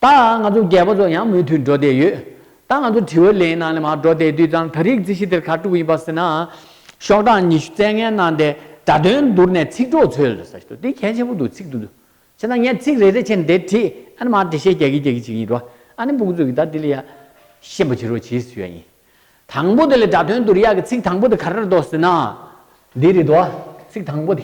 ད་ང་ཚོ་རྒས་པོ་ཚོ་ཡང་མུ་མཐུད་འགྲོ་བསྡད་ཡོད། ད་ང་ཚོ་དྲི་བོའི་ལན་ནང་ལས་མ་འགྲོ་བསྡད་དུས་ཙང་ད་རིག་རྩིས་ཞི་བདེར་ཁ་དཀྲུག་ཡིན་པ་ཟེར་ན། ཤོག་གྲངས་ཉི་ཤུ་བཙལ་ངན་གནང་སྟེ་དྲ་དོན་བསྡུར་ནས་ཚིག་གྲོགས་ཚོའི་ལས་ས་དེ་གལ་ཆེན་པོ་འདུག་ཚིག་འདུ་ཆེ་ན་ངས་ཚིག་རེ་རེ་བྱས་ནས་དེ་བྲིས་ཨ་ནི་མར་འགྲེལ་བཤད་རྒྱག་གི་རྒྱག་གི་བྱེད་ཀྱི་ཡིན་འགྲོ་ཨ་ནི་འབུག་ཚུགས་ཀྱི་ད་དེ་ལས་ཡག་ཤེས་པ་བྱེད་རོགས་བྱེད་ཟེར་ཡ་ཡིན། དང་པོ་དེ་ལས་དྲ་དོན་བསྡུར་ཡག་གི་ཚིག་དང་པོ་དེ་ག་རེར་འདོགས་ཟེར་ན། འདི་རེད་འདོགས་ཚིག་དང་པོ་དེ།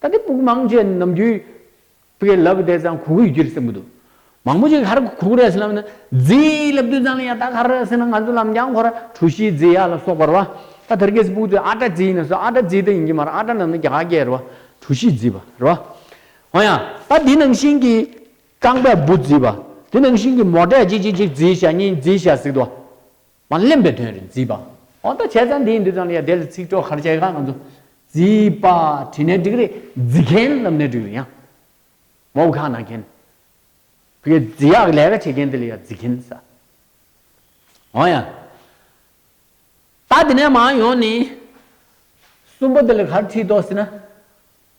ད་ལྟའི་བུག་མང་ཆེ་ནམ་རྒྱུའི། བུ་གའི་ལབ་བདེ་ཙང་གུ་གུལ་རྒྱུ་རུ་སེམས་མི་འདུག། མང་པོ་ཞིག་ཧར་གུ་གུ་ར་སེ་ལམ་ན། རྫི་ཡི་ལབ་བདུད་ཙང་ལ་ཡང་དག་ཧར་ར་སེ་ན་ང་ཚོ་ལམ་རྒྱང་འཁོར་ར་གྲུ་བཞིའི་རྫི་ཡ་ལ་སོགས་པར་བ། ད་དར་གས་བུག་ཏུ་ཨ་བྲ་རྫི་ཡིན་ན་སོ་ཨ་བྲ་རྫི་ད་ཡིན་གྱི་མ་ར་ཨ་བྲ་རྣམས་ནི་རྒྱ་གས་ར་བ་གྲུ་བཞིའི་རྫི་བ་ར་བ། འོ་ཡང་ད་དེ་ནང་བཞིན་གྱི། རྐང་པས་བུ་རྫི་བ། དེ་ནང་བཞིན་གྱི་མོ་བྲས་ཅིག་ཅིག་ཅིག་རྫི་ཞྭ་གཉིས་རྫི་ཞྭ་གཟིགས་དུ་བ། མ་བརླན་པའི་དོན་རེད་བརྫིས་པ། ཨོ་ད་བྱས་ཙང་དེའི་འདི་དང་ཡ་དེ་ལ་ཚིག་གྲོགས་གར་བྱས་ཁ་ང་ཚོ། བརྫིས་པ་བྲིས་ནས་འགྲིག་རེད་བརྫི་མཁན་རྣམས་ནས་འགྲིག་རེད་ཡང། མོ་བུ་ཁ་ན་མཁན། བུ་ཡ་བརྫི་ཡག་ལས་ཀ་བྱེད་མཁན་དེ་ལ་ཡ་བརྫི་མཁན་ཟ། ཨོ་ཡ། ད་དེ་ནས་མང་ཡོང་ནི། གསུམ་པོ་དེ་ལ་གར་བྲིས་དོགས་ཟིན་ན།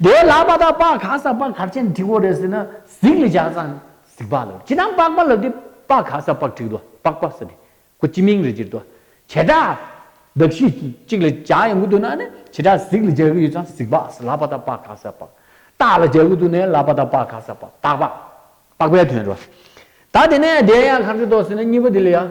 དེ་ལ་པ་དག་པ་ག་ས་པ་གར་ཆེན་འཁྲིག་བོ་རེ་ཟིན་ན་གཟིགས་ལ་ཇག་ཚང་གཟིགས་པ་ལོ་ཅི་དང་པགས་པ་ལོ་དེ་པ་ག་ས་པགས་འཁྲིག་དོ་པགས་པ་ས་དེ་ཁོ་སྤྱི་མིང་རེ་གྱིར་དོ་བྱེ་བྲག་གདགས་གཞི་གཅིག་ལ་ཇག་ཡོང་གི་འདུག་ན་ནི་བྱེ་བྲག་གཟིགས་ལ་ཇག་གི་ཡོད་ཚང་གཟིགས་པ་ས་ལ་པ་དག་པ་ག་ས་པགས་སྟག་ལ་ཇག་གི་འདུག་ནས་ལ་པ་དག་པ་ག་ས་པགས་སྟག་པ་པགས་པའི་དོན་རོ། ད་དེ་ནས་དེ་ཡང་གར་ཆེན་དོ་ཟིན་ན་གཉིས་པ་དེ་ལ་ཡང།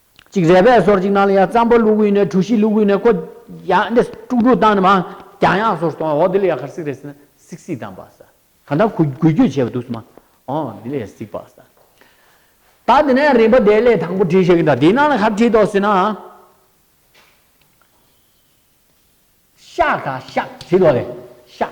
གཅིག་རལ་པའི་སོར་གཅིག་ནང་ལ་ཡང་རྩམ་པ་བླུགས་དབུས་ནས་གྲུ་བཞི་བླུགས་དབུས་ནས་ཀོ། ཡང་འདི་ཀྲུག་ཀྲུག་བཏང་ནས་མང། ཀྱང་ཡང་སོར་སྟོང་འོ་དེ་ལ་ཡང་ཁར་སིག་རེ་ཟིན་ན་སིག་སིག་བཏང་བ་ས། གང་ལྟར་གུ་གུལ་སྐྱོད་བྱས་པ་འདུག་སྲིད་མ། འོ་དེ་ལ་ཡང་སིག་བ་ས། ད་དེ་ནས་རིམ་པ་དེ་ལས་དང་པོ་བྲིས་ཤེས་ཀྱི་འདྲ་དེའི་ནང་ལ་ཁར་བྲིས་དོགས་སྲིད་ན། ཤག་དང་ཤག་བྲིས་དོགས་རེད་ཤག།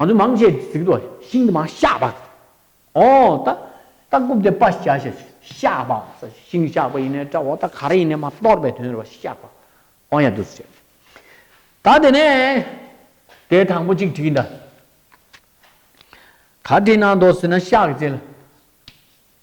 ང་ཚོ་མང་ཆེ་གཟིགས་དོ་ཤིང་དུ་མ་ཤ་བ། ཨོ་ད་ད་རྐུབ་དེ་པ་ཤ་ཤ་ཤ་བ་ས་ཤིང་ཤ་བ་ཡིན་ནས་ཏྲ་བོ་ད་ག་རེ་ཡིན་ནས་མ་གཏོར་བའི་དོན་རེད་བ་ཤ་བ། ཨོ་ཡ་དུས་ཚོད་ཟད། ད་དེ་ནས་དེ་དང་པོ་གཅིག་བྲིས་འདྲ། ག་བྲིས་ན་འདོད་ཟེར་ན་ཤག་བྱེད་ལ།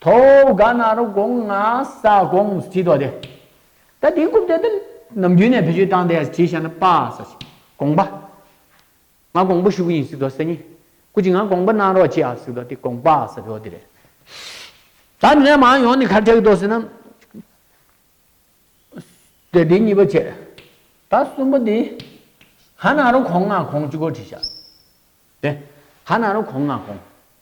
ཐོ་ག་ན་རུ་དགོངས་ང་ས་དགོངས་སུ་བྲིས་ཏོ་དེ། ད་དེའི་རྐུབ་སྟེགས་དེ་ནམ་རྒྱུན་ནས་བེད་སྤྱོད་བཏང་སྟེ་བྲིས་བྱས་ན་དཔའ་ས་ཞེས་དགོངས་པ། ང་དགོངས་པ་ཞུ་གི་ཡིན་ཟེར་ཏོ་ས་གཉིས་སྐུ་ཅི་ང་དགོངས་པ་གནང་རོགས་ཅེས་ཨ་ཟེར་ཏོ་དེ་དགོངས་པ་ས་རེད་བ་དེ་རེད། ད་ནས་མང་ཡོང་ནི་ཁ་བྲལ་གི་ཏོ་ཟེར་ན། དེ་དེ་གཉིས་པ་བྱས། ད་གསུམ་པ་དེ། ག་ན་རུ་གོང་ང་གོང་གཅིག་གོ་བྲིས་བྱ། དེ། ག་ན་རུ་གོང་ང་གོང།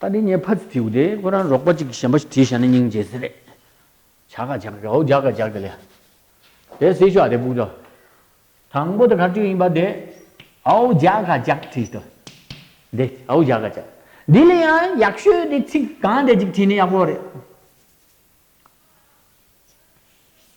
ད་ནི་ངས་ཕ་ཚི་ཐིའུ་དེ་ཁོ་རང་རོགས་པ་ཅིག་གི་ཞལ་འབའ་ཞིག་བྲིས་བཞག་ན་སྙིང་རྗེ་ཟི་རེད། བྱ་ག་བྱ་ག་གའུ་བྱ་ག་བྱ་ག་ལས། དེ་སྲིད་ཤོག་དེ་སྤུག་ཏོ། དང་པོ་དེ་ག་དུས་ཡིན་པ་དེ། གའུ་བྱ་ག་བྱ་ག་བྲིས་ཏོ། དེ་གའུ་བྱ་ག་བྱ་ག། དེ་ལས་ཡང་ཡག་ཤོས་དེ་ཚིག་གང་དེ་ཅིག་བྲིས་ན་ཡག་པོ་རེད།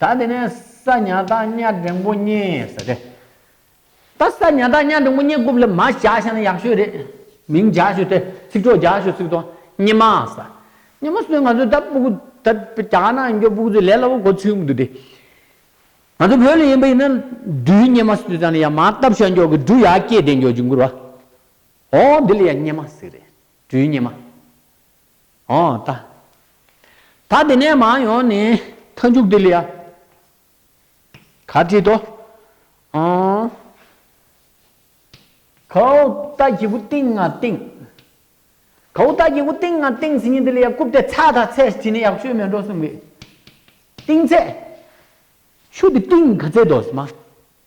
ད་དེ་ནས་ས་ཉག་སྟག་སྨྱ་འབྲིང་པོ་རྙེད་ཟེར་རེད། ད་ས་ཉག་སྟག་སྨྱ་འབྲིང་པོ་རྙེད་རྐུབ་ལ་མ་བཞག་ཤེས་ན་ཡག་ཤོས་རེད། མིང་རྒྱག་ཤོས་དེ་ཚིག་གྲོགས་རྒྱག་ཤོས་ཚིག་ཐོ་རྙེད་མ་ཟ། རྙེད་མ་སོན་ང་ཚོས་ད་པུ་གུ་ད་རྒྱག་ན་ཡིན་གྱོ་པུ་གུ་ཚོས་ལས་སླ་པོ་གོ་ཚུལ་མི་འདུག་དེ། ང་ཚོ་བོད་ལ་ཡིན་པ་ཡིན་ན་འབྲུའི་རྙེད་མ་སོས་ཙང་ལ་ཡང་མ་བཏབ་ཤ་འགྱོག་གི་འབྲུ་ཡར་སྐྱེས་བསྡད་འགྱོ་ཅི་འགུར་བ། ཨོ་འདི་ལ་ཡང་རྙེད་མ་ཟེར་རེད། འབྲུའི་རྙེད་མ། འོང་ལྟ། ད་དེ་ནས་མ་ཡོང་ནི་མཐའ་མཇུག་དེ་ལ་ཡ། ག་བྲིས་ཏོ། འོང། ཁའུ་ད་གྱི་གུ་ཏིང་ང་ཏིང། ཁའུ་ད་གྱི་གུ་ཏིང་ང་ཏིང་ཟིན་ནི་དེ་ལ་ཡ་རྐུབ་དེ་ཚ་ད་ཚས་བྲིས་ནི་ཡག་བཅོས་མེད་འགྲོ་གསུངས་པས། ཏིང་ཚས། ཆུ་དེ་ཏིང་ག་ཚས་དོ་ཟེར་མ།